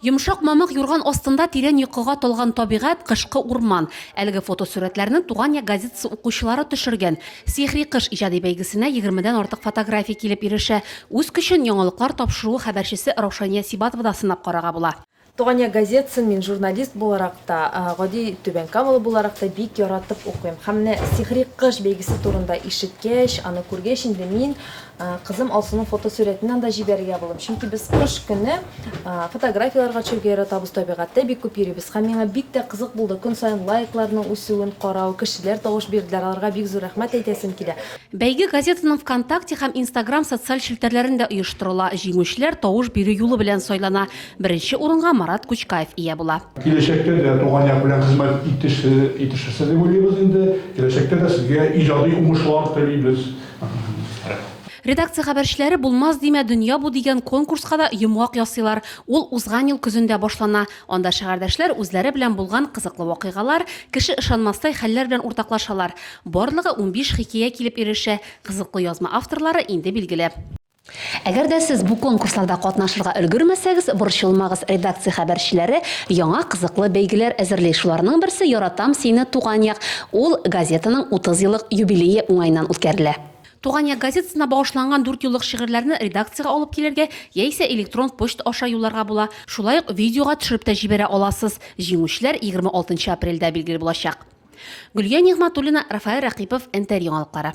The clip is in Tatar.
Йомшак мамык юрган астында тирән йокыга талган табигать, кышкы урман. Әлеге фотосурәтләрне Туган як газетасы укучылары төшергән. Сихри кыш иҗади бәйгесенә егермедән артык фотография килеп ирешә. Үз көчен Яңалыклар тапшыруы хәбәрчесе Раушания Сибатова да сынап карарга була. Туган як газетасын мин журналист буларак та, гади түбәнкамалы буларак та бик яратып укыйм. Һәм менә Сихри кыш бәйгесе турында ишеткәч, аны күргәч инде мин Кызым Алсуның фотосурәтен анда җибәрергә булдым, чөнки без кыш көне фотографияләргә төшәргә яратабыз, табигатьтә бик күп йөрибез. Һәм миңа бик тә кызык булды көн саен лайкларның үсүен карау, кешеләр тавыш бирделәр, аларга бик зур рәхмәт әйтәсем килә. Бәйге газетаның ВКонтакте һәм Инстаграм социаль челтәрләрендә оештырыла, җиңүчеләр тавыш бирү юлы белән сайлана, беренче урынга Марат Кучкаев ия була. Киләчәктә дә туган як белән хезмәт итешерсез дип уйлыйбыз инде. Киләчәктә дә сезгә иҗади уңышлар телибез. Редакция хәбәрчеләре Булмас димә, дөнья бу дигән конкурска да йомгак ясыйлар. Ул узган ел көзендә башлана. Анда шәгәрдәшләр үзләре белән булган кызыклы вакыйгалар, кеше ышанмастай хәлләр белән уртаклашалар. Барлыгы унбиш хикәя килеп ирешә, кызыклы язма авторлары инде билгеле. Әгәр дә сез бу конкурсларда катнашырга өлгермәсәгез, борчылмагыз, редакция хәбәрчеләре яңа кызыклы бәйгеләр әзерли. Шуларның берсе Яратам сине, Туган як. Ул газетаның 30 еллык юбилее уңаеннан үткәрелә. Туган як газетасына багышланган дүртьюллык шигырьләрне редакциягә алып килергә яисә электрон почта аша юлларга була, шулай ук видеога төшереп тә җибәрә аласыз. Җиңүчеләр 26 нчы апрельдә билгеле булачак. Гөлия Нигъмәтуллина, Рафаэль Рәкыйпов, Нтр яңалыклары.